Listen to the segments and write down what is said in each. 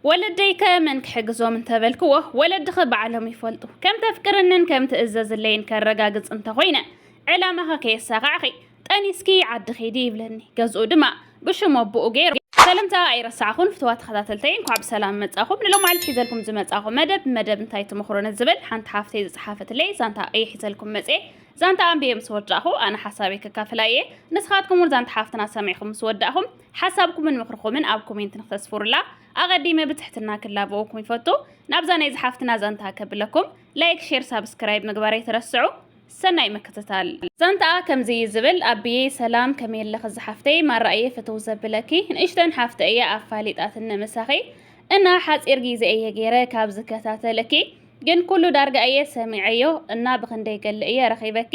ወለደይከ መን ክሕግዞም እንተበልክዎ፣ ወለድኺ ባዕሎም ይፈልጡ። ከም ተፍቅርንን ከም ትእዘዝለይን ከረጋግጽ እንተኾይነ፣ ዕላማኺ ከየሳኻዕኺ ጠኒስኪ ዓዲ ኺዲ ይብለኒ። ገዝኡ ድማ ብሽም ኣቦኡ ገይሩ። ሰለምታ ኣይረሳዕኹን ፍትዋት ተኸታተልተይ እንኳዕ ብሰላም መጻኹም ንሎማዓልቲ ሒዘልኩም ዝመጻኹ መደብ መደብ እንታይ ትምኽሩኒ ዝብል ሓንቲ ሓፍተይ ዝጸሓፈትለይ ዛንታ እየ ሒዘልኩም መጽየ ዛንታ ኣንብየ ምስ ወዳእኹ ኣነ ሓሳበይ ከካፍላ እየ ንስኻትኩም እውን ዛንታ ሓፍትና ሰሚዕኹም ምስ ወዳእኹም ሓሳብኩምን ምኽርኹምን ኣብ ኮሜንት ንክተስፍሩላ ኣቐዲመ ብትሕትና ክላበወኩም ይፈቱ። ናብዛ ናይ ዝሓፍትና ዛንታ ከብለኩም ላይክ ሼር ሳብስክራይብ ምግባር ኣይትረስዑ። ሰናይ ምክትታል። ዛንታኣ ከምዚ እዩ ዝብል፣ ኣቢየ ሰላም ከመይ ኣለኺ ዝሓፍተይ ማራ እየ ፍትው ዘብለኪ ንእሽተን ሓፍተይ እያ ኣፋሊጣትኒ ምሳኺ እና ሓፂር ጊዘ እየ ገይረ ካብ ዝከታተለኪ ግን ኩሉ ዳርጋ እየ ሰሚዐዮ እና ብክንደይ ገለ እየ ረኺበኪ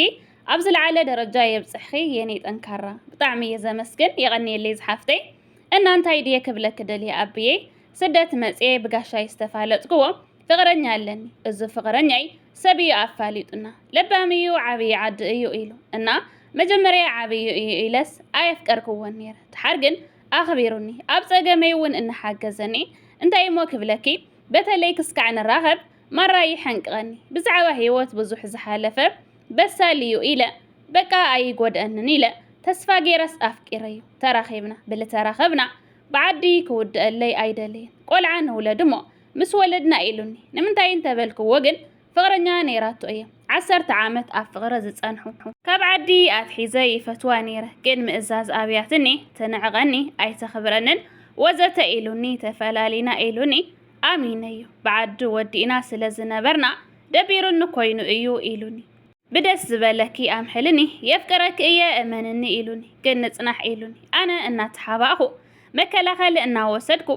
ኣብ ዝለዓለ ደረጃ የብጽሕኺ የኔ ጠንካራ። ብጣዕሚ እየ ዘመስግን የቐንየለይ ዝሓፍተይ እና እንታይ ድየ ክብለኪ ደልየ ኣብየይ ስደት መጽየ ብጋሻይ ዝተፋለጥክዎ ፍቕረኛ ኣለኒ እዙ ፍቕረኛይ ሰብ እዩ ኣፋሊጡና ለባም እዩ ዓብይ ዓዲ እዩ ኢሉ እና መጀመርያ ዓብዩ እዩ ኢለስ ኣየፍቀርክዎን ነይረ ተሓር ግን ኣኽቢሩኒ ኣብ ጸገመይ እውን እናሓገዘኒ እንታይ እሞ ክብለኪ በተለይ ክስካዕ ንራኸብ ማራ ይሐንቅቀኒ ብዛዕባ ሂወት ብዙሕ ዝሓለፈ በሳል እዩ ኢለ በቃ ኣይጎድኣንን ኢለ ተስፋ ጌረስ ኣፍቂረዮ ተራኺብና ብልተራኸብና ብዓዲ ክውድኣለይ ኣይደልይን ቆልዓ ንውለድ እሞ ምስ ወለድና ኢሉኒ ንምንታይ እንተበልክዎ ግን ፍቅረኛ ነይራቶ እየ ዓሰርተ ዓመት ኣብ ፍቅሪ ዝጸንሑ ካብ ዓዲ ኣትሒዘ ይፈትዋ ነይረ ግን ምእዛዝ ኣብያትኒ ትንዕቀኒ ኣይተኽብረንን ወዘተ ኢሉኒ ተፈላሊና ኢሉኒ ኣሚነዮ ብዓዲ ወዲእና ስለ ዝነበርና ደቢሩኒ ኮይኑ እዩ ኢሉኒ። ብደስ ዝበለኪ ኣምሕልኒ የፍቅረኪ እየ እመንኒ ኢሉኒ። ግን ንጽናሕ ኢሉኒ። ኣነ እናተሓባእኹ መከላኸሊ እናወሰድኩ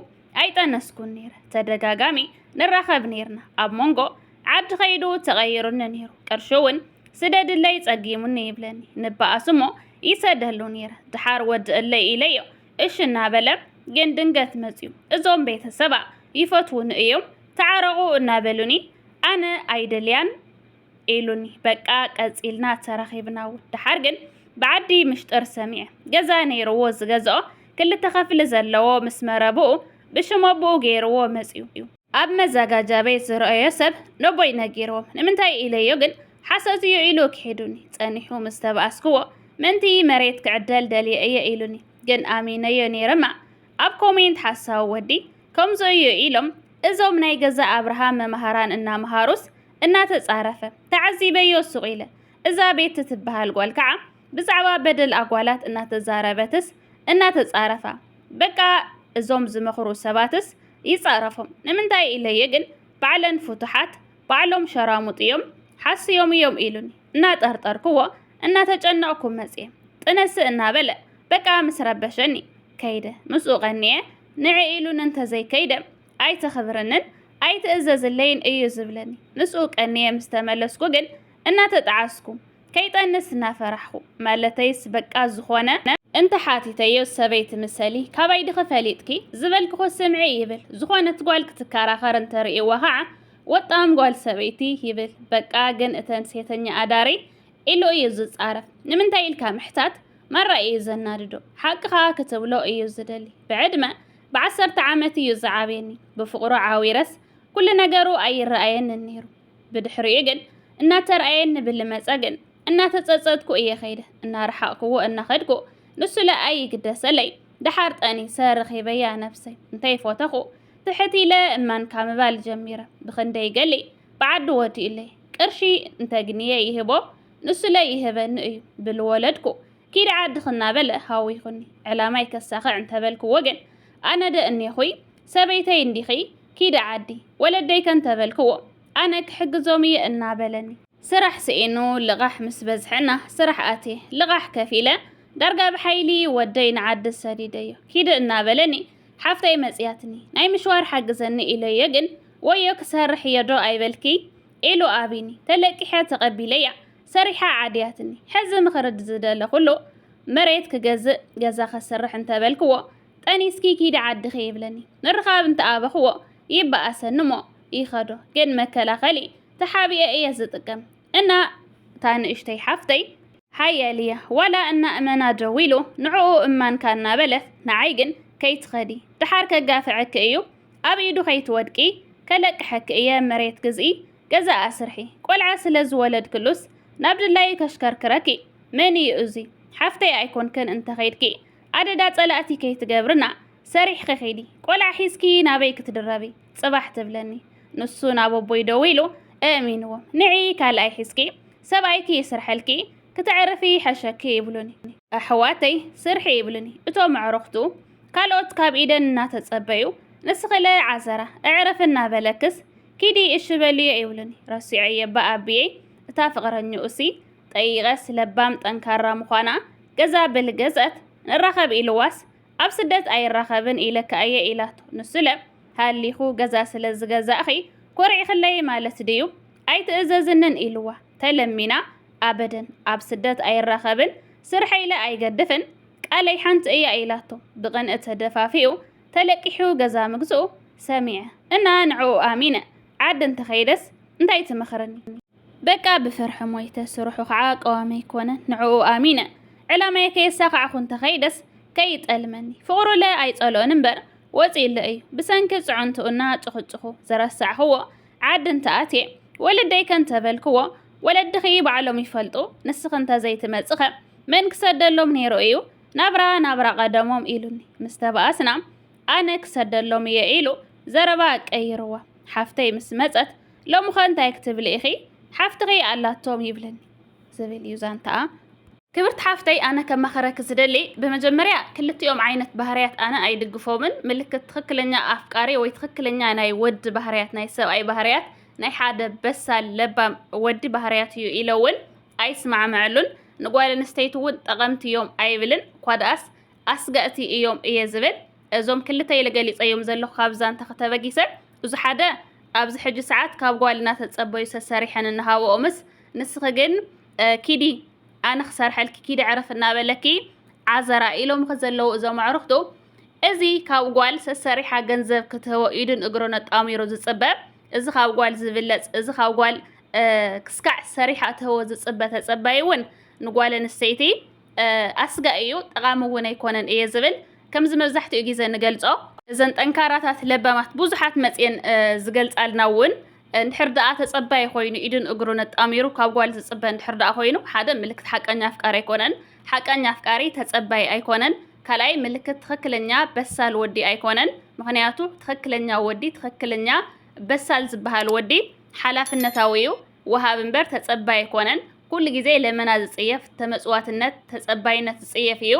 ኣይጠነስኩን ነይረ። ተደጋጋሚ ንራኸብ ነይርና። ኣብ መንጎ ዓዲ ከይዱ ተቐይሩኒ ነይሩ። ቅርሹ እውን ስደድለይ ጸጊሙኒ ይብለኒ። ንበኣስ እሞ ይሰደሉ ነይረ። ድሓር ወድእለይ ኢለዮ እሺ እናበለ ግን ድንገት መፅዩ እዞም ቤተሰባ ይፈትዉኒ እዮም ተዓረቑ እናበሉኒ ኣነ ኣይደልያን ኢሉኒ በቃ ቀፂልና ተራኺብና እውን ደሓር ግን ብዓዲ ምሽጥር ሰሚዐ ገዛ ነይርዎ ዝገዝኦ ክልተ ኸፍሊ ዘለዎ ምስ መረብኡ ብሽም ኣቦኡ ገይርዎ መፅዩ እዩ ኣብ መዛጋጃ ቤት ዝረኣዮ ሰብ ነቦይ ነጊርዎም ንምንታይ ኢለዮ ግን ሓሶት እዩ ኢሉ ክሒዱኒ ጸኒሑ ምስ ተባኣስክዎ ምእንቲ መሬት ክዕደል ደልየ እየ ኢሉኒ ግን ኣሚነዮ ነይረ እማ ኣብ ኮሜንት ሓሳዊ ወዲ ከምዚ እዩ ኢሎም እዞም ናይ ገዛ ኣብርሃም መምሃራን እናምሃሩስ እናተጻረፈ ተዓዚበዮ ሱቕ ኢለ እዛ ቤቲ ትበሃል ጓል ከዓ ብዛዕባ በደል ኣጓላት እናተዛረበትስ እናተጻረፋ በቃ እዞም ዝመኽሩ ሰባትስ ይጻረፎም ንምንታይ ኢለዮ ግን ባዕለን ፍቱሓት ባዕሎም ሸራሙጥ ኢዮም ሓስዮም ኢዮም ኢሉኒ እናጠርጠርክዎ እናተጨነቕኩ መጽየ ጥነሰ እናበለ በቃ ምስ ረበሸኒ ከይደ ምስኡ ቀንየ ንዒ ኢሉኒ እንተዘይከይደ ኣይተኽብርንን ኣይትእዘዝለይን እዩ ዝብለኒ ምስኡ ቀንየ ምስ ተመለስኩ ግን እናተጠዓስኩ ከይጠንስ እናፈራሕኹ ማለተይስ በቃ ዝኾነ እንተ ሓቲተዮ ሰበይቲ ምሰሊ ካባይ ድኺ ፈሊጥኪ ዝበልክኹ ስምዒ ይብል ዝኾነት ጓል ክትካራኸር እንተ ርእይዋ ኻዓ ወጣም ጓል ሰበይቲ ይብል በቃ ግን እተን ሴተኛ ኣዳሪ ኢሉ እዩ ዝጻረፍ ንምንታይ ኢልካ ምሕታት ማራ እዩ ዘናድዶ ሓቂ ኻዓ ክትብሎ እዩ ዝደሊ ብዕድመ ብዓሰርተ ዓመት እዩ ዝዓብየኒ ብፍቕሩ ዓዊረስ ኩሉ ነገሩ ኣይረኣየንን ነይሩ ብድሕሪኡ ግን እናተርኣየኒ ብልመጸ ግን እናተጸጸትኩ እየ ከይደ እናረሓቕክዎ እናኸድኩ ንሱለ ኣይግደሰለይ ደሓር ጠኒ ሰረኺበያ ነፍሰይ እንታይ ፎተኹ ትሕት ኢለ እማንካ ምባል ጀሚረ ብክንደይ ገሊ ብዓዲ ወዲኡለይ ቅርሺ እንተግንየ ይህቦ ንሱለ ይህበኒ እዩ ብልወለድኩ ኪድ ዓድኽ እናበለ ሃዊኹኒ ዕላማይ ከሳኽዕ እንተበልክዎ ግን ኣነደ እኔኹይ ሰበይተይ እንዲኺ ኪዲ ዓዲ ወለደይከ እንተበልክዎ፣ ኣነ ክሕግዞም እየ እናበለኒ። ስራሕ ስኢኑ ልቓሕ ምስ በዝሐና ስራሕ ኣትየ፣ ልቓሕ ከፊለ ዳርጋ ብሓይሊ ወደይ ንዓዲ ሰዲደዮ። ኪዲ እናበለኒ ሓፍተይ መፅያትኒ። ናይ ምሽዋር ሓግዘኒ ኢለዮ ግን፣ ወዮ ክሰርሕ እየ ዶ ኣይበልክይ? ኢሉ ኣብዩኒ። ተለቂሐ ተቐቢለያ፣ ሰሪሓ ዓድያትኒ። ሕዚ ምኽሪ ዝደለኹሉ፣ መሬት ክገዝእ፣ ገዛ ከስርሕ እንተበልክዎ፣ ጠኒስኪ ኪዲ ዓድኺ ይብለኒ ምርኻብ እንተ ኣበኽዎ ይበኣሰኒ እሞ ይኸዶ ግን መከላኸሊ ተሓቢኤ እየ ዝጥቀም እና እታ ንእሽተይ ሓፍተይ ሓያል እያ ዋላ እና እመና ደዊሉ ንዕኡ እማንካ እናበለኽ ንዓይ ግን ከይትኸዲ ድሓር ከጋፍዐኪ እዩ ኣብ ኢዱ ከይትወድቂ ከለቅሐኪ እየ መሬት ግዝኢ ገዛ ኣስርሒ ቆልዓ ስለ ዝወለድክሉስ ናብ ድላዩ ከሽከርክረኪ መን እዩ እዙይ ሓፍተይ ኣይኮንክን እንተ ኸይድኪ ኣደዳ ጸላእቲ ከይትገብርና ሰሪሕኺ ኺዲ ቆልዓ ሒዝኪ ናበይ ክትድረቢ ጽባሕ ትብለኒ ንሱ ናብ ኣቦይ ደዊሉ እእሚንዎም ንዒ ካልኣይ ሒዝኪ ሰብኣይኪ ይስርሐልኪ ክተዕርፊ ይሐሸኪ ይብሉኒ ኣሕዋተይ ስርሒ ይብሉኒ እቶም ኣዕሩኽቱ ካልኦት ካብ ኢደን እናተጸበዩ ንስኺለ ዓዘራ እዕርፊ እናበለክስ ኪዲ እሺ በልዮ ይብሉኒ ረሲዐዮ እባ ኣቢየይ እታ ፍቕረኝኡሲ ጠይቐስ ለባም ጠንካራ ምዃና ገዛ በል ገዝኣት ንራኸብ ኢልዋስ ኣብ ስደት ኣይራኸብን ኢለኪ ኣየ ኢላቶ ንሱለ ሃሊኹ ገዛ ስለ ዝገዛእኺ ኮሪዕክለይ ማለት ድዩ ኣይትእዘዝንን ኢልዋ ተለሚና ኣበደን ኣብ ስደት ኣይራኸብን ስርሐይለ ኣይገድፍን ቃለይ ሓንቲ እያ ኢላቶ ብቕንእ ተደፋፊኡ ተለቂሑ ገዛ ምግዝኡ ሰሚዐ እና ንዕኡ ኣሚነ ዓዲ እንተኸይደስ እንታይ ትመኽርኒ በቃ ብፍርሒ ሞይተ ስርሑ ከዓ ቀዋሚ ኣይኮነን ንዕኡ ኣሚነ ዕላማየ ከየሳካዕኩ እንተከይደስ ከይጠልመኒ ፍቅሩለ ኣይፀልኦን እምበር ወፂኡለ እዩ ብሰንኪ ፅዕንትኡ እና ፁክፁኩ ዝረሳዕክዎ ዓዲ እንተኣትየ ወለደይከ እንተበልክዎ ወለድኪ ባዕሎም ይፈልጡ ንስኪ እንተዘይትመፅከ መን ክሰደሎም ነይሩ እዩ ናብራ ናብራ ቀደሞም ኢሉኒ ምስተባኣስና ኣነ ክሰደሎም እየ ኢሉ ዘረባ ቀይርዋ ሓፍተይ ምስ መፀት ሎምኸ እንታይ ክትብሊ ኢኺ ሓፍትኺ ኣላቶም ይብልን ዝብል እዩ ዛንታኣ። ክብርቲ ሓፍተይ ኣነ ከማኽረኪ ዝደሊ ብመጀመርያ ክልቲኦም ዓይነት ባህርያት ኣነ ኣይድግፎምን ምልክት ትኽክለኛ ኣፍቃሪ ወይ ትኽክለኛ ናይ ወዲ ባህርያት ናይ ሰብኣይ ባህርያት ናይ ሓደ በሳል ለባም ወዲ ባህርያት እዩ ኢለ እውን ኣይስማዕመዐሉን ንጓል ኣንስተይቲ እውን ጠቐምቲ እዮም ኣይብልን እኳ ደኣስ ኣስጋእቲ እዮም እየ ዝብል እዞም ክልተ ኢለ ገሊፀዮም ዘለኹ ካብ ዛንታኺ ተበጊሰ እዙ ሓደ ኣብዚ ሕጂ ሰዓት ካብ ጓል እናተጸበዩ ሰሰሪሐን እናሃበኦምስ ንስኺ ግን ኪዲ ኣነ ክሰርሐልኪ ኪዲ ዕረፍ እናበለኪ ዓዘራ ኢሎምኺ ዘለዉ እዞም ኣዕሩኽቱ እዚ ካብ ጓል ሰሰሪሓ ገንዘብ ክትህቦ ኢዱን እግሮን ኣጣሚሩ ዝጽበ እዚ ካብ ጓል ዝብለጽ እዚ ካብ ጓል ክስካዕ ሰሪሓ እትህቦ ዝጽበ ተጸባይ እውን ንጓል ኣንስተይቲ ኣስጋኢ እዩ፣ ጠቓሚ እውን ኣይኮነን እየ ዝብል። ከምዚ መብዛሕትኡ ግዜ ንገልጾ። እዘን ጠንካራታት ለባማት ብዙሓት መጽየን ዝገልጻልና እውን እንድሕር ደኣ ተጸባዪ ኮይኑ ኢዱን እግሩን ኣጣሚሩ ካብ ጓል ዝጽበ እንድሕር ደኣ ኮይኑ ሓደ ምልክት ሓቀኛ ኣፍቃሪ ኣይኮነን። ሓቀኛ ኣፍቃሪ ተጸባዪ ኣይኮነን። ካልኣይ ምልክት ትኽክለኛ በሳል ወዲ ኣይኮነን። ምኽንያቱ ትኽክለኛ ወዲ ትኽክለኛ በሳል ዝበሃል ወዲ ሓላፍነታዊ እዩ። ወሃቢ እምበር ተጸባይ ኣይኮነን። ኩሉ ግዜ ለመና ዝጽየፍ፣ ተመጽዋትነት፣ ተጸባይነት ዝጽየፍ ኢዩ።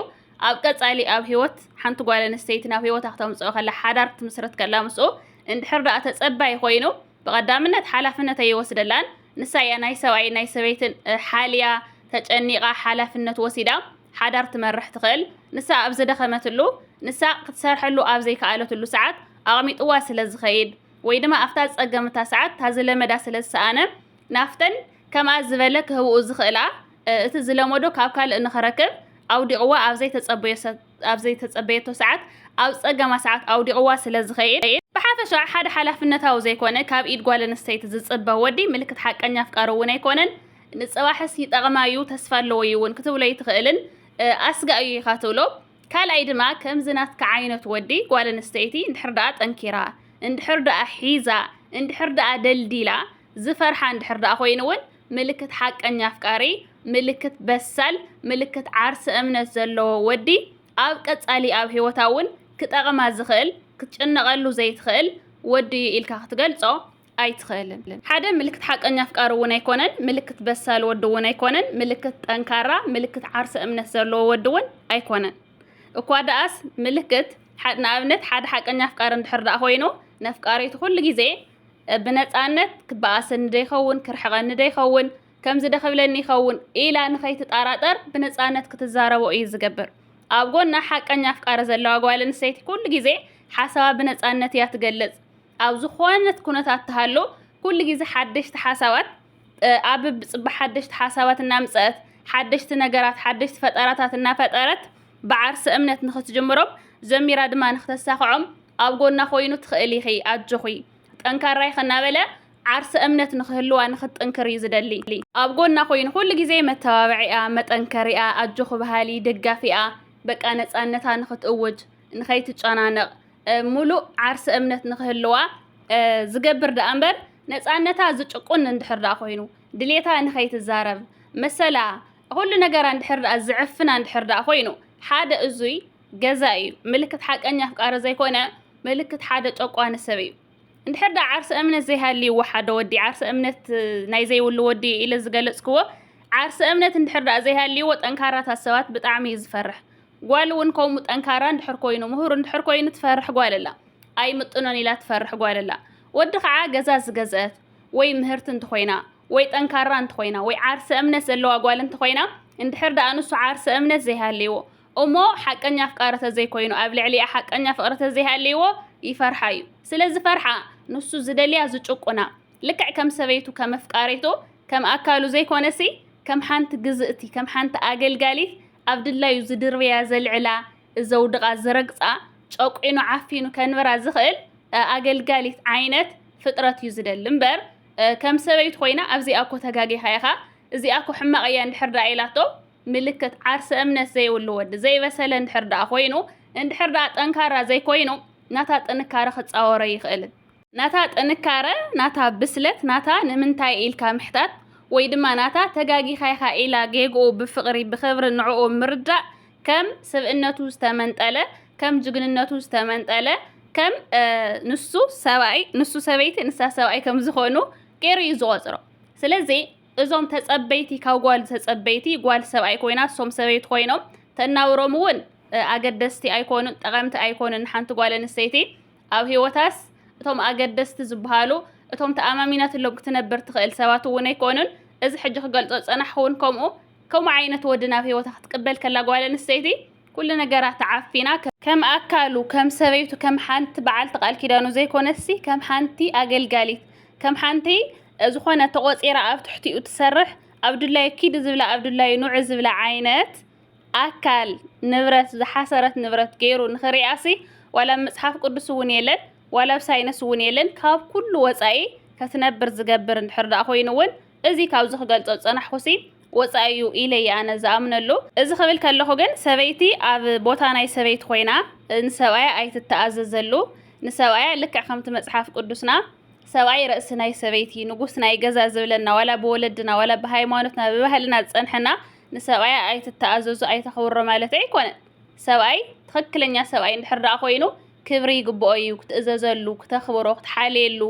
ኣብ ቀጻሊ ኣብ ህይወት ሓንቲ ጓል ኣንስተይቲ ናብ ህይወታ ክተምጽኦ ከላ፣ ሓዳር ክትምስርት ከላ ምስኡ እንድሕር ደኣ ተጸባይ ኮይኑ፣ ብቐዳምነት ሓላፍነት ኣይወስደላን። ንሳ ኢያ ናይ ሰብኣይን ናይ ሰበይትን ሓልያ፣ ተጨኒቓ፣ ሓላፍነት ወሲዳ ሓዳር ትመርሕ ትኽእል። ንሳ ኣብ ዝደኸመትሉ፣ ንሳ ክትሰርሐሉ ኣብ ዘይከኣለትሉ ሰዓት ኣቕሚጥዋ ስለ ዝኸይድ፣ ወይ ድማ ኣብታ ዝጸገም እታ ሰዓት እታ ዝለመዳ ስለ ዝሰኣነ ናፍተን ከምኣ ዝበለ ክህብኡ ዝኽእላ እቲ ዝለመዶ ካብ ካልእ ንኽረክብ ኣውዲቕዋ ኣብ ዘይተጸበዮ ኣብ ዘይተጸበየቶ ሰዓት ኣብ ጸገማ ሰዓት ኣውዲቕዋ ስለ ዝኸይድ ብሓፈሻ ሓደ ሓላፍነታዊ ዘይኮነ ካብ ኢድ ጓል ኣንስተይቲ ዝጽበ ወዲ ምልክት ሓቀኛ ኣፍቃሪ እውን ኣይኮነን ንጽባሕስ ይጠቕማ እዩ ተስፋ ኣለዎ እዩ እውን ክትብሎ ኣይትኽእልን ኣስጋእ እዩ ኢኻ ትብሎ ካልኣይ ድማ ከምዚ ናትካ ዓይነት ወዲ ጓል ኣንስተይቲ እንድሕር ደኣ ጠንኪራ እንድሕር ደኣ ሒዛ እንድሕር ደኣ ደልዲላ ዝፈርሓ እንድሕር ደኣ ኮይኑ እውን ምልክት ሓቀኛ ኣፍቃሪ ምልክት በሳል ምልክት ዓርሰ እምነት ዘለዎ ወዲ ኣብ ቀጻሊ ኣብ ህይወታ እውን ክጠቕማ ዝኽእል ክትጭነቐሉ ዘይትኽእል ወዲ እዩ ኢልካ ክትገልጾ ኣይትኽእልን። ሓደ ምልክት ሓቀኛ ኣፍቃሪ እውን ኣይኮነን፣ ምልክት በሳል ወዲ እውን ኣይኮነን፣ ምልክት ጠንካራ፣ ምልክት ዓርሰ እምነት ዘለዎ ወዲ እውን ኣይኮነን። እኳ ደኣስ ምልክት፣ ንኣብነት ሓደ ሓቀኛ ኣፍቃሪ እንድሕር ደኣ ኮይኑ፣ ነፍቃሪቱ ኩሉ ግዜ ብነጻነት ክበኣሰኒ ዶ ይኸውን፣ ክርሕቐኒ ዶ ይኸውን፣ ከምዚ ዶ ክብለኒ ይኸውን ኢላ ንኸይትጣራጠር ብነጻነት ክትዛረቦ እዩ ዝገብር። ኣብ ጎና ሓቀኛ ኣፍቃሪ ዘለዋ ጓል ኣንስተይቲ ኩሉ ግዜ ሓሳባ ብነጻነት እያ ትገልጽ። ኣብ ዝኾነት ኩነታት ትሃሉ ኩሉ ግዜ ሓደሽቲ ሓሳባት ኣብ ብጽባሕ ሓደሽቲ ሓሳባት እናምጸት ሓደሽቲ ነገራት ሓደሽቲ ፈጠራታት እናፈጠረት ብዓርሰ እምነት ንኽትጅምሮም ዘሚራ ድማ ንኽተሳኽዖም ኣብ ጎና ኮይኑ ትኽእል ኢኺ ኣጆኺ ጠንካራ ኢኺ እናበለ ዓርሰ እምነት ንኽህልዋ ንኽትጥንክር እዩ ዝደሊ ኣብ ጎና ኮይኑ ኩሉ ግዜ መተባብዒኣ መጠንከሪኣ ኣጆኺ በሃሊ ደጋፊኣ በቃ ነጻነታ ንኽትእውጅ ንኸይትጨናነቕ ምሉእ ዓርሰ እምነት ንኽህልዋ ዝገብር ደኣ እምበር ነፃነታ ዝጭቁን እንድሕር ደኣ ኮይኑ ድሌታ ንኸይትዛረብ መሰላ ኩሉ ነገራ እንድሕር ደኣ ዝዕፍና እንድሕር ደኣ ኮይኑ ሓደ እዙይ ገዛ እዩ ምልክት ሓቀኛ ኣፍቃሪ ዘይኮነ ምልክት ሓደ ጨቋኒ ሰብ እዩ እንድሕር ደኣ ዓርሰ እምነት ዘይሃልይዎ ሓደ ወዲ ዓርሰ እምነት ናይ ዘይብሉ ወዲ ኢለ ዝገለፅክዎ ዓርሰ እምነት እንድሕር ደኣ ዘይሃልይዎ ጠንካራታት ሰባት ብጣዕሚ እዩ ዝፈርሕ ጓል እውን ከምኡ ጠንካራ እንድሕር ኮይኑ ምሁር እንድሕር ኮይኑ ትፈርሕ ጓል ኣላ ኣይምጥኖን ኢላ ትፈርሕ ጓል ኣላ ወዲ ከዓ ገዛ ዝገዘእት ወይ ምህርቲ እንተኾይና ወይ ጠንካራ እንተኾይና ወይ ዓርሰ እምነት ዘለዋ ጓል እንተኾይና እንድሕር ደኣ ንሱ ዓርሰ እምነት ዘይሃልይዎ እሞ ሓቀኛ ኣፍቃሪ ተዘይኮይኑ ኣብ ልዕሊኣ ሓቀኛ ፍቕሪ ተዘይሃልይዎ ይፈርሓ እዩ ስለ ዝፈርሓ ንሱ ዝደልያ ዝጭቁና ልክዕ ከም ሰበይቱ ከም ኣፍቃሪቱ ከም ኣካሉ ዘይኮነሲ ከም ሓንቲ ግዝእቲ ከም ሓንቲ ኣገልጋሊት ኣብ ድላዩ ዝድርብያ ዘልዕላ ዘውድቓ ዝረግጻ ጨቊኑ ዓፊኑ ከንብራ ዝኽእል ኣገልጋሊት ዓይነት ፍጥረት እዩ ዝደሊ እምበር ከም ሰበይቱ ኮይና ኣብዚኣ እኮ ተጋጊኻ ኢኻ እዚኣ እኮ ሕማቕ እያ እንድሕር ደኣ ኢላቶ ምልክት ዓርሰ እምነት ዘይብሉ ወዲ ዘይበሰለ እንድሕር ደኣ ኮይኑ እንድሕር ደኣ ጠንካራ ዘይኮይኑ ናታ ጥንካረ ክጻወሮ ኣይኽእልን። ናታ ጥንካረ ናታ ብስለት ናታ ንምንታይ ኢልካ ምሕታት ወይ ድማ ናታ ተጋጊኻ ኢኻ ኢላ ጌግኡ ብፍቕሪ ብኽብሪ ንዕኡ ምርዳእ ከም ስብእነቱ ዝተመንጠለ ከም ጅግንነቱ ዝተመንጠለ ከም ንሱ ሰብኣይ ንሱ ሰበይቲ ንሳ ሰብኣይ ከም ዝኾኑ ገይሩ እዩ ዝቖፅሮ ስለዚ እዞም ተጸበይቲ ካብ ጓል ተጸበይቲ ጓል ሰብኣይ ኮይና እሶም ሰበይቲ ኮይኖም ተናውሮም እውን ኣገደስቲ ኣይኮኑን ጠቐምቲ ኣይኮኑን ሓንቲ ጓል ኣንስተይቲ ኣብ ህይወታስ እቶም ኣገደስቲ ዝበሃሉ፣ እቶም ተኣማሚናትሎም ክትነብር ትኽእል ሰባት እውን ኣይኮኑን። እዚ ሕጂ ክገልጾ ዝጸናሕኩ እውን ከምኡ። ከምኡ ዓይነት ወዲ ናብ ህይወታ ክትቅበል ከላ ጓል ኣንስተይቲ፣ ኩሉ ነገራ ተዓፊና፣ ከም ኣካሉ፣ ከም ሰበይቱ፣ ከም ሓንቲ በዓልቲ ቃል ኪዳኑ ዘይኮነትሲ፣ ከም ሓንቲ ኣገልጋሊት፣ ከም ሓንቲ ዝኾነ ተቖጺራ ኣብ ትሕቲኡ ትሰርሕ፣ ኣብ ድላዩ ኪዲ ዝብላ ኣብ ድላዩ ኑዒ ዝብላ ዓይነት፣ ኣካል፣ ንብረት፣ ዝሓሰረት ንብረት ገይሩ ንኽሪኣሲ ዋላ ኣብ መጽሓፍ ቅዱስ እውን የለን፣ ዋላ ኣብ ሳይንስ እውን የለን። ካብ ኩሉ ወጻኢ ከትነብር ዝገብር እንድሕር ደኣ ኮይኑ እውን እዚ ካብዚ ክገልጾ ዝጸናሕኩሲ ወጻኢ እዩ ኢለ እየ ኣነ ዝኣምነሉ። እዚ ክብል ከለኹ ግን ሰበይቲ ኣብ ቦታ ናይ ሰበይቲ ኮይና ንሰብኣያ ኣይትተኣዘዘሉ። ንሰብኣያ ልክዕ ከምቲ መጽሓፍ ቅዱስና ሰብኣይ ርእሲ ናይ ሰበይቲ፣ ንጉስ ናይ ገዛ ዝብለና ዋላ ብወለድና ዋላ ብሃይማኖትና ብባህልና ዝጸንሐና ንሰብኣያ ኣይትተኣዘዙ ኣይተኽብሮ ማለት ኣይኮነን ሰብኣይ ትኽክለኛ ሰብኣይ እንድሕር ደኣ ኮይኑ ክብሪ ይግብኦ እዩ ክትእዘዘሉ ክተኽብሮ ክትሓልየሉ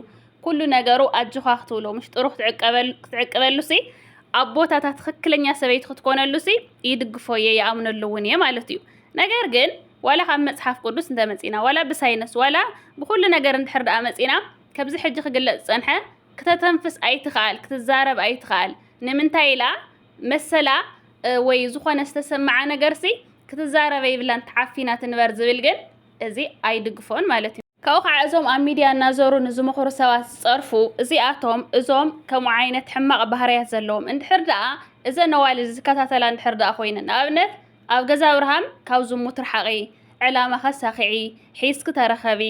ኩሉ ነገሩ ኣጆኻ ክትብሎ ምሽጥሩ ክትዕቅበሉ ሲ ኣቦታታ ትኽክለኛ ሰበይቲ ክትኮነሉ ሲ ይድግፎ እየ ይኣምነሉ እውን እየ ማለት እዩ ነገር ግን ዋላ ካብ መጽሓፍ ቅዱስ እንተመጺና ዋላ ብሳይነስ ዋላ ብኩሉ ነገር እንድሕር ደኣ መጺና ከብዚ ሕጂ ክግለጽ ዝጸንሐ ክተተንፍስ ኣይትኽኣል ክትዛረብ ኣይትኽኣል ንምንታይ ኢላ መሰላ ወይ ዝኾነ ዝተሰምዓ ነገርሲ ክትዛረበ ይብላን ተዓፊና ትንበር ዝብል ግን እዚ ኣይድግፎን ማለት እዩ። ካብኡ ከዓ እዞም ኣብ ሚድያ እናዞሩ ንዝምኽሩ ሰባት ዝፀርፉ እዚኣቶም እዞም ከምኡ ዓይነት ሕማቕ ባህርያት ዘለዎም እንድሕር ደኣ እዘን ኣዋልድ ዝከታተላ እንድሕር ደኣ ኮይነን ንኣብነት ኣብ ገዛ ኣብርሃም ካብ ዝሙት ርሓቒ ዕላማ ከሳኺዒ ሒዝኪ ተረኸቢ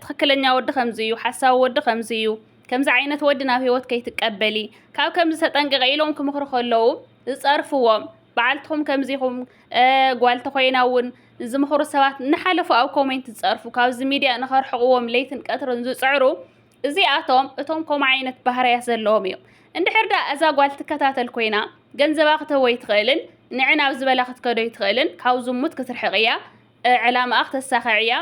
ትኽክለኛ ወዲ ከምዚ እዩ ሓሳዊ ወዲ ከምዚ እዩ ከምዚ ዓይነት ወዲ ናብ ህይወት ከይትቀበሊ ካብ ከምዚ ተጠንቅቂ ኢሎም ክምክሩ ከለዉ ዝጸርፍዎም በዓልትኹም ከምዚኹም ጓል ተኮይና እውን ዝምኽሩ ሰባት እናሓለፉ ኣብ ኮሜንት ዝጸርፉ ካብዚ ሚድያ ንኸርሕቕዎም ለይትን ቀትርን ዝጽዕሩ እዚኣቶም እቶም ከምኡ ዓይነት ባህርያት ዘለዎም እዮም እንድሕር ዳ እዛ ጓል ትከታተል ኮይና ገንዘባ ክትህቦ ይትኽእልን ንዕን ኣብ ዝበላ ክትከዶ ይትኽእልን ካብ ዝሙት ክትርሕቕ እያ ዕላማኣ ክተሳኽዕ እያ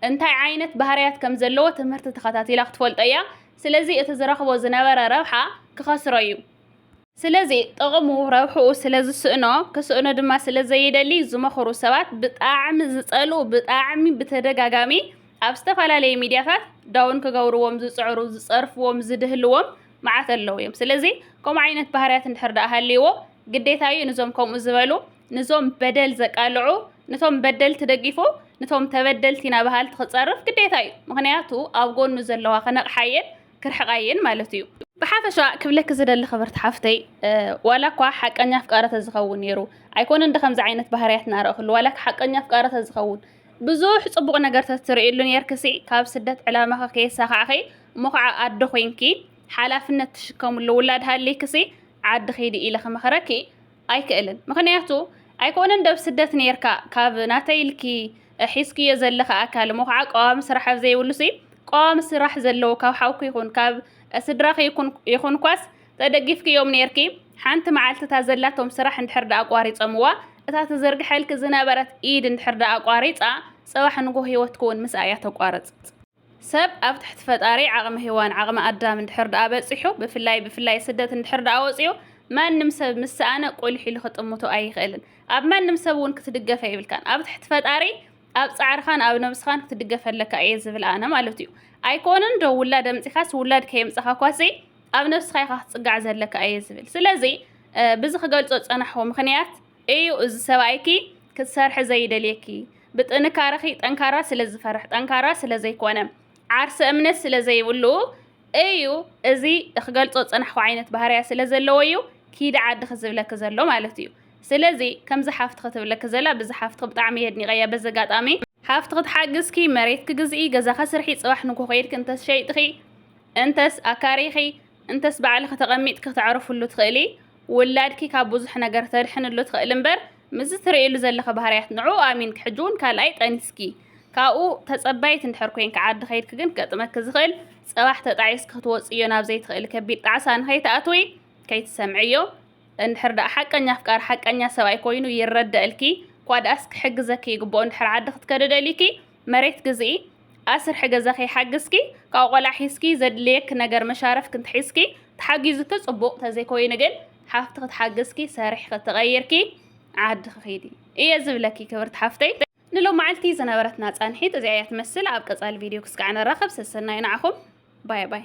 እንታይ ዓይነት ባህርያት ከም ዘለዎ ትምህርቲ ተኸታቲላ ክትፈልጦ እያ። ስለዚ እቲ ዝረኽቦ ዝነበረ ረብሓ ክኸስሮ እዩ። ስለዚ ጥቕሙ ረብሕኡ ስለ ዝስእኖ ክስእኖ ድማ ስለ ዘይደሊ ዝመኽሩ ሰባት ብጣዕሚ ዝጸልኡ ብጣዕሚ ብተደጋጋሚ ኣብ ዝተፈላለየ ሚድያታት ዳውን ክገብርዎም ዝጽዕሩ ዝጸርፍዎም ዝድህልዎም መዓት ኣለዉ እዮም። ስለዚ ከምኡ ዓይነት ባህርያት እንድሕር ደኣ ሃልይዎ ግዴታ እዩ ንዞም ከምኡ ዝበሉ ንዞም በደል ዘቃልዑ ንቶም በደልቲ ደጊፉ ንቶም ተበደልቲ ኢና በሃልቲ ክጸርፍ ግዴታ እዩ ምክንያቱ ኣብ ጎኑ ዘለዋ ከነቕሓየን ክርሕቃየን ማለት እዩ። ብሓፈሻ ክብለኪ ዝደሊ ክብርቲ ሓፍተይ ዋላ እኳ ሓቀኛ ኣፍቃሪ ተዝኸውን ነይሩ ኣይኮነን ዶ ከምዚ ዓይነት ባህርያት ናረእክሉ ዋላ ሓቀኛ ኣፍቃሪ ተዝኸውን ብዙሕ ጽቡቕ ነገር ተትርእይሉ ነርክሲ ካብ ስደት ዕላማኺ ከየሳኻዕኺ እሞ ከዓ ኣዶ ኮንኪ ሓላፍነት ትሽከምሉ ውላድ ሃሊክሲ ዓዲ ኺዲ ኢለ ክመኽረኪ ኣይክእልን ምኽንያቱ ኣይኮነን ደብ ስደት ነርካ ካብ ናተይ ኢልኪ ሒዝክዮ ዘለኺ ኣካል እሞ ከዓ ቀዋሚ ስራሕ ኣብ ዘይብሉሲ ቀዋሚ ስራሕ ዘለዎ ካብ ሓውኪ ይኹን ካብ ስድራኺ ይኹንኳስ ተደጊፍክዮም ነርኪ ሓንቲ መዓልቲ እታ ዘላቶም ስራሕ እንድሕር ደኣ ኣቋሪፀምዋ እታ ትዝርግሐልኪ ዝነበረት ኢድ እንድሕር ደኣ ኣቋሪፃ ፅባሕ ንጎህ ህይወትኪ እውን ምስኣ እያ ተቋርፅ ሰብ ኣብ ትሕቲ ፈጣሪ ዓቕሚ ሄዋን ዓቕሚ ኣዳም እንድሕር ደኣ በጺሑ ብፍላይ ብፍላይ ስደት እንድሕር ደኣ ወጺኡ ማንም ሰብ ምስ ሰኣነ ቁሊሕ ኢሉ ክጥምቶ ኣይኽእልን። ኣብ ማንም ሰብ እውን ክትድገፍ ኣይብልካን። ኣብ ትሕቲ ፈጣሪ ኣብ ጻዕርኻን ኣብ ነብስኻን ክትድገፍ ኣለካ እየ ዝብል ኣነ ማለት እዩ። ኣይኮንን ዶ ውላድ ኣምጺኻስ ውላድ ከየምጻኻ ኳሲ ኣብ ነብስኻ ኢኻ ክትጽጋዕ ዘለካ እየ ዝብል። ስለዚ ብዚ ክገልጾ ዝጸናሕኩ ምኽንያት እዩ እዚ ሰብኣይኪ ክትሰርሒ ዘይደልየኪ ብጥንካረኺ ጠንካራ ስለ ዝፈርሕ ጠንካራ ስለ ዘይኮነ ዓርሰ እምነት ስለ ዘይብሉ እዩ እዚ እክገልጾ ጽናሕኩ ዓይነት ባህርያ ስለ ዘለዎ እዩ ኪዲ ዓድኺ ዝብለኪ ዘሎ ማለት እዩ ስለዚ ከምዚ ሓፍቲ ክትብለኪ ዘላ ብዚ ሓፍትኺ ብጣዕሚ የድኒቀያ በዚ ኣጋጣሚ ሓፍቲ ክትሓግዝኪ መሬት ክግዝኢ ገዛ ከስርሒ ጽባሕ ንጎ ከይድኪ እንተስ ሸይጥኺ እንተስ ኣካሪኺ እንተስ ባዕልኺ ተቐሚጥኪ ክተዕርፍሉ ትኽእሊ፣ ውላድኪ ካብ ብዙሕ ነገር ክተድሕንሉ ትኽእሊ እምበር ምስዚ ትርእይሉ ዘለኺ ባህርያት ንዕኡ ኣሚንኪ ሕጂ እውን ካልኣይ ጠኒስኪ ካብኡ ተጸባይት እንድሕር ኮይንኪ ዓዲ ከይድኪ ግን ክገጥመኪ ዝኽእል ጽባሕ ተጣዒስኪ ክትወጽእዮ ናብ ዘይትኽእሊ ከቢድ ጣዕሳ ንኸይትኣትዊ ከይትሰምዕዮ እንድሕር ደኣ ሓቀኛ ኣፍቃሪ ሓቀኛ ሰብኣይ ኮይኑ ይረደእልኪ እኳ ደኣስ ክሕግዘኪ ይግብኦ እንድሕር ዓዲ ክትከዲ ደሊኪ መሬት ግዝኢ፣ ኣስርሒ ገዛኺ ሓግዝኪ፣ ካብኡ ቆልዓ ሒዝኪ ዘድልየኪ ነገር መሻርፍ ክንትሒዝኪ፣ ተሓጊዙኪ ጽቡቕ ተዘይኮይኑ ግን ሓፍትኺ ትሓግዝኪ ሰሪሕኺ ተቐይርኪ ዓድኺ ኺዲ እየ ዝብለኪ ክብርቲ ሓፍተይ። ንሎማዓልቲ ዝነበረትና ጻንሒት እዚኣ እያ ትመስል ኣብ ቀጻሊ ቪድዮ ክስካዕ ንራኸብ ሰሰናዩ ንዓኹም ባይ ባይ።